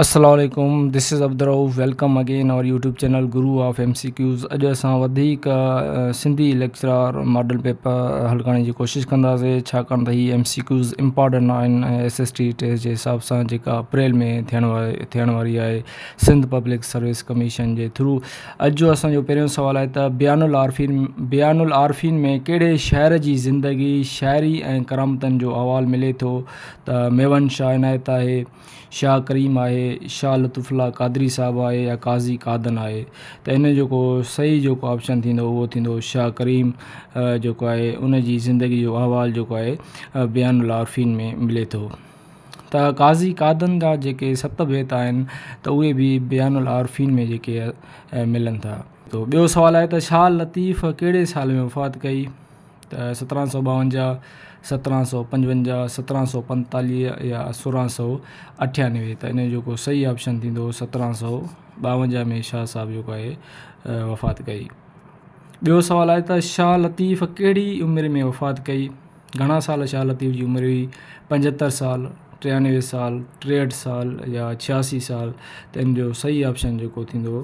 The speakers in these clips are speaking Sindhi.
السلام عليڪم this is Abdul Rauf welcome again our YouTube channel guru of M C Qs اڄ اسان وڌيڪ سنڌي ليڪچرار ماڊل پيپر حل ڪرڻ جي ڪوشش ڪنداسي ڇاڪاڻ ته هي ايم سي ڪيوز امپارٽنٽ آهن ۽ ايس ايس ٽي ٽيسٽ جي حساب سان جيڪا اپريل ۾ ٿيڻ واري ٿيڻ واري آهي سنڌ پبلڪ سروس ڪميشن جي ٿرو اڄ جو اسانجو پهريون سوال آهي ته بيان العارفين بيان العارفين ۾ ڪهڙي شاعر جي زندگي شاعري ۽ ڪرامتن جو احوال ملي ٿو ته ميوند شاهه عنايت آهي، شاهه ڪريم آهي، شاهه لطف الله قادري صاحب آهي يا قاضي قادن آهي ته ان جو جيڪو صحيح جيڪو آپشن ٿيندو اهو ٿيندو شاهه ڪريم جيڪو آهي ان جي زندگي جو احوال جيڪو آهي بيان العارفين ۾ ملي ٿو ته قاضي قادن جا جيڪي ست بيت آهن ته اهي به بيان العارفين ۾ جيڪي ملن ٿا ته ٻيو سوال آهي ته شاهه لطيف ڪهڙي سال ۾ وفات ڪئي ته سترهن سؤ ٻاونجاهه، سترهن سؤ پنجونجاهه، سترهن سؤ پنجيتاليهه يا سورهن سؤ اٺيانوي ته ان جو جيڪو صحيح آپشن ٿيندو سترهن سؤ ٻاونجاهه ۾ شاهه صاحب جيڪو آهي وفات ڪئي. ٻيو سوال آهي ته شاهه لطيف ڪهڙي عمر ۾ وفات ڪئي؟ گهڻا سال شاهه لطيف جي عمر هئي؟ پنجهتر سال، ٽيانوي سال، ٽيهٺ سال يا ڇياسي سال ته ان جو صحيح آپشن جيڪو ٿيندو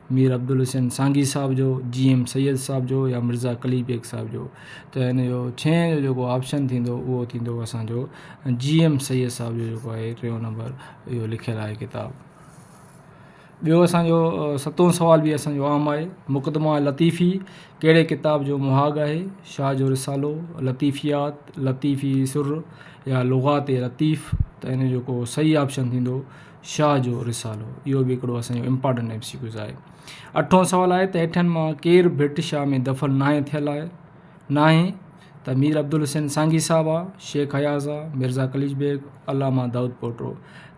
مير عبدالحسين سانگي صاحب جو، جي ايم سيد صاحب جو يا مرزا قلي بيگ صاحب جو ته هن جو ڇهين جو جيڪو آپشن ٿيندو اهو ٿيندو اسان جو جي ايم سيد صاحب جو جيڪو آهي ٽيون نمبر اهو لکيل آهي ڪتاب ٻيو اسان جو ستون سوال به اسان جو عام آهي مقدمه لطيفي ڪهڙي ڪتاب جو مهاڳ آهي شاهه جو رسالو لطيفيات لطيفي سر يا لغات لطيف ته هن جو جيڪو صحيح آپشن ٿيندو شاهه جو رسالو اهو به هڪڙو اسان جو امپارٽنٽ ايم سي ڪيوز آهي اٺون سوال آهي ته هيٺين مان ڪير ڀٽ شاهه ۾ دفن ناهي ٿيل آهي ناهي ته مير عبدالحسين سانگي صاحب آهي شيخ اياز آهي مرزا قليچ بيگ علامه دائود پوٽو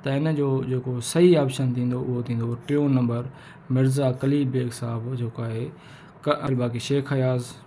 ته ان جو جيڪو صحيح آپشن ٿيندو اهو ٿيندو ٽيون نمبر مرزا قليچ بيگ صاحب جيڪو آهي الباقي شيخ اياز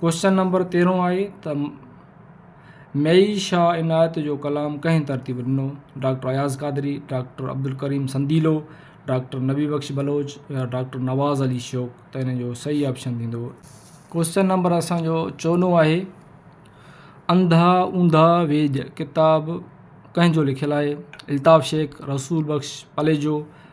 ڪوئسچن نمبر تيرهون آهي ته مئي شاهه عنايت جو ڪلام ڪنهن ترتيب ڏنو؟ Doctor Ayaz Qadri, doctor Abdul Karim Sandilo, doctor Nabi Bakhsh Baloch يا ڊاڪٽر نواز علي شوق ته ان جو صحيح آپشن ٿيندو. ڪوئسچن نمبر اسان جو چوڏهون آهي انڌا اونڌا ويڄ ڪتاب ڪنهن جو لکيل آهي؟ الطاف شيخ، رسول بخش پليجو،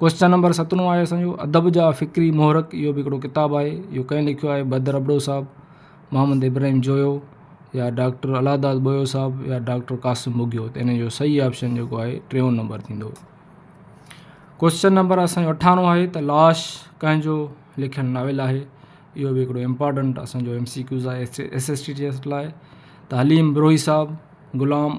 ڪوشچن نمبر سترهون آهي اسان جو ادب جا فڪري محرڪ اهو به هڪڙو ڪتاب آهي اهو ڪنهن لکيو آهي بدر ابڙو صاحب محمد ابراهيم جويو يا ڊاڪٽر الهداد بويو صاحب يا ڊاڪٽر قاسم بگيو ته ان جو صحيح آپشن جيڪو آهي ٽيون نمبر ٿيندو ڪوشچن نمبر اسانجو اٺارو آهي ته لاش ڪنهن جو لکيل ناول آهي اهو به هڪڙو امپارٽنٽ اسانجو ايم سي ڪيوز آهي ايس ايس ٽي جي لاء تعليم بروهي صاحب غلام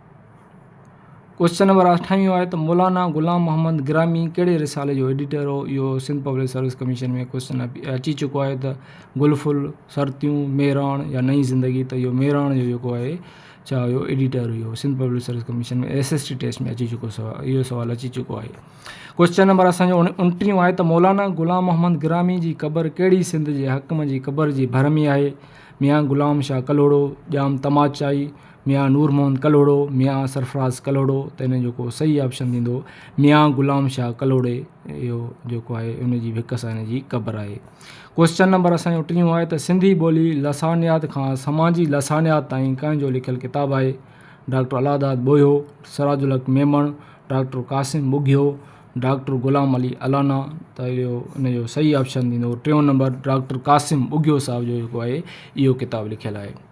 ڪوئسچن نمبر اٺائين اهو آهي ته مولانا غلام محمد گرامي ڪهڙي رسالي جو ايڊيٽر هو اهو Sindh public service commission ۾ question اچي چڪو آهي ته گل ڦل سرتيون مهراڻ يا نئي زندگي ته اهو مهراڻ جو جيڪو آهي ڇا هيو ايڊيٽر هيو Sindh public service commission ۾ S S T test ۾ اچي چڪو سوال اهو سوال اچي چڪو آهي ڪوئسچن نمبر اسانجو انٽيهون آهي ته مولانا غلام محمد گرامي جي قبر ڪهڙي سنڌ جي حڪم جي قبر جي ڀر ۾ آهي ميان غلام شاهه ڪلهوڙو ڄام تماچائي ميان نور محمد ڪلهوڙو، ميان سرفراز ڪلهوڙو ته ان جو ڪو صحيح آپشن ٿيندو ميان غلام شاهه ڪلهوڙي اهو جيڪو آهي ان جي به هڪ سان ان جي قبر آهي. ڪوئسچن نمبر اسان جو ٽيون آهي ته سنڌي ٻولي لسانيات کان سماجي لسانيات تائين ڪنهن جو لکيل ڪتاب آهي؟ Doctor Allah Dad Bohio, Siraj ul Haq Memon, doctor Qasim Bughio, doctor Ghulam Ali Allana ته اهو ان جو صحيح آپشن ٿيندو ٽيون نمبر ڊاڪٽر قاسم ٻگهيو صاحب جو جيڪو آهي اهو ڪتاب لکيل آهي.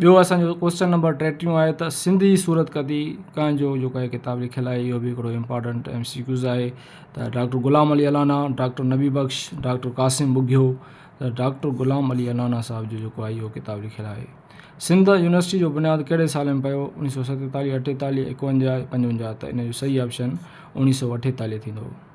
ٻيو اسان جو ڪوشچن نمبر ٽيٽيهون آهي ته سنڌي صورت ڪتي ڪنهن جو جو ڪا ڪتاب لکيل آهي اهو بي هڪڙو امپارٽنٽ ايم سي ڪيوز آهي ته doctor Ghulam Ali Allana doctor Nabi Bakhsh doctor Qasim Bughio ته ڊاڪٽر غلام علي الانا صاحب جو جو ڪو آهي اهو ڪتاب لکيل آهي سنڌ يونيورسٽي جو بنياد ڪهڙي سال ۾ پيو اڻيهه سو ستيتاليهه اٺيتاليهه ايڪونجاهه پنجونجاهه ته ان جو صحيح آپشن اڻيهه سو اٺيتاليهه ٿيندو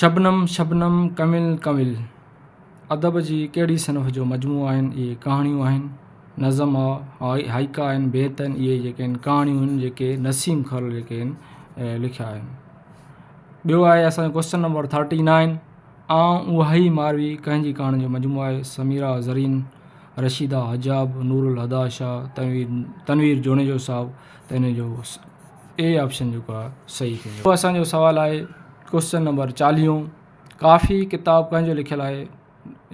شبنم شبنم ڪنول ڪنول ادب جي ڪهڙي صنف جو مجموعو آهن اهي ڪهاڻيون آهن نظم آهي هائيڪا آهن بيت آهن اهي جيڪي آهن ڪهاڻيون آهن جيڪي نسيم کل جيڪي آهن لکيا آهن ٻيو آهي اسانجو ڪوسچن نمبر ٿرٽي نائين آئون اها ئي ماروي ڪنهنجي ڪهاڻي جو مجموعو آهي سميرا زرين رشيدا حجاب نور الهديٰ شاهه تنوير تنوير جوڻيجو صاحب تنهنجو اي آپشن جيڪو آهي صحيح ٿيندو. پوء اسان جو سوال آهي ڪوسچن نمبر چاليهون ڪافي ڪتاب ڪنهن جو لکيل آهي؟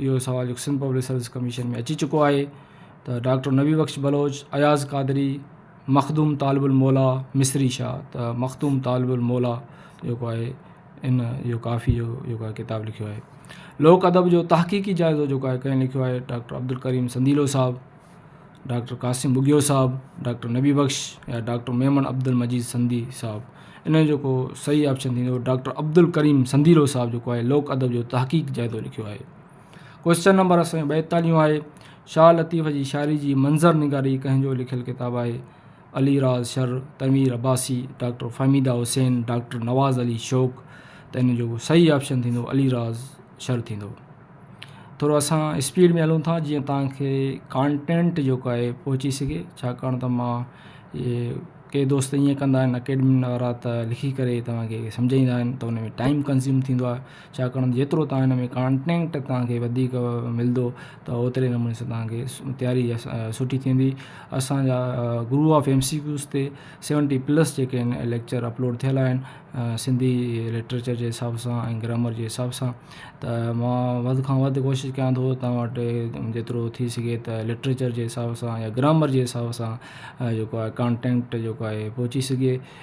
اهو سوال جيڪو سنڌ پبلڪ سروس ڪميشن ۾ اچي چڪو آهي ته ڊاڪٽر نبي بخش بلوچ، اياز قادري، مخدوم طالب الموليٰ، مصري شاهه ته مخدوم طالب الموليٰ جيڪو آهي ان اهو ڪافي جو جيڪو آهي ڪتاب لکيو آهي. لوڪ ادب جو تحقيقي جائزو جيڪو آهي ڪنهن لکيو آهي ڊاڪٽر عبدالڪريم سنديلو صاحب. ڊاڪٽر قاسم ٻگهيو صاحب، ڊاڪٽر نبي بخش يا ڊاڪٽر ميمڻ عبدالمجيد سنڌي صاحب ان جو جيڪو صحيح آپشن ٿيندو ڊاڪٽر عبدالڪريم سنڌيلو صاحب جيڪو آهي لوڪ ادب جو تحقيق جائزو لکيو آهي ڪوشچن نمبر اسان جو ٻائيتاليهون آهي شاهه لطيف جي شاعري جي منظر نگاري ڪنهن جو لکيل ڪتاب آهي علي راز شر، تنوير عباسي، ڊاڪٽر فهميده حسين، ڊاڪٽر نواز علي شوق ته ان جو صحيح آپشن ٿيندو علي راز شر ٿيندو. ٿورو اسان اسپيڊ ۾ هلون ٿا جيئن تان کي ڪانٽينٽ جيڪو آهي پهچي سگهي ڇاڪاڻ ته مان ڪي دوست ائين ڪندا آهن اڪيڊمين وارا ته لکي ڪري توهان کي سمجهائيندا آهن ته ان ۾ ٽائيم ڪنزيوم ٿيندو آهي ڇاڪاڻ ته جيترو تان هن ۾ ڪانٽينٽ تان کي وڌيڪ ملندو ته اوتري نموني سان تان کي تياري سٺي ٿيندي اسانجا guru of M C Qs تي سيونٽي پلس جيڪي آهن ليڪچر اپلوڊ ٿيل آهن سنڌي ليٽريچر جي حساب سان ۽ گرامر جي حساب سان ته ما وڌ کان وڌ ڪوشش ڪيا ٿو ته تان وٽ جيترو ٿي سگهي ته ليٽريچر جي حساب سان يا گرامر جي حساب سان جيڪو آهي ڪانٽينٽ جيڪو آهي پهچي سگهي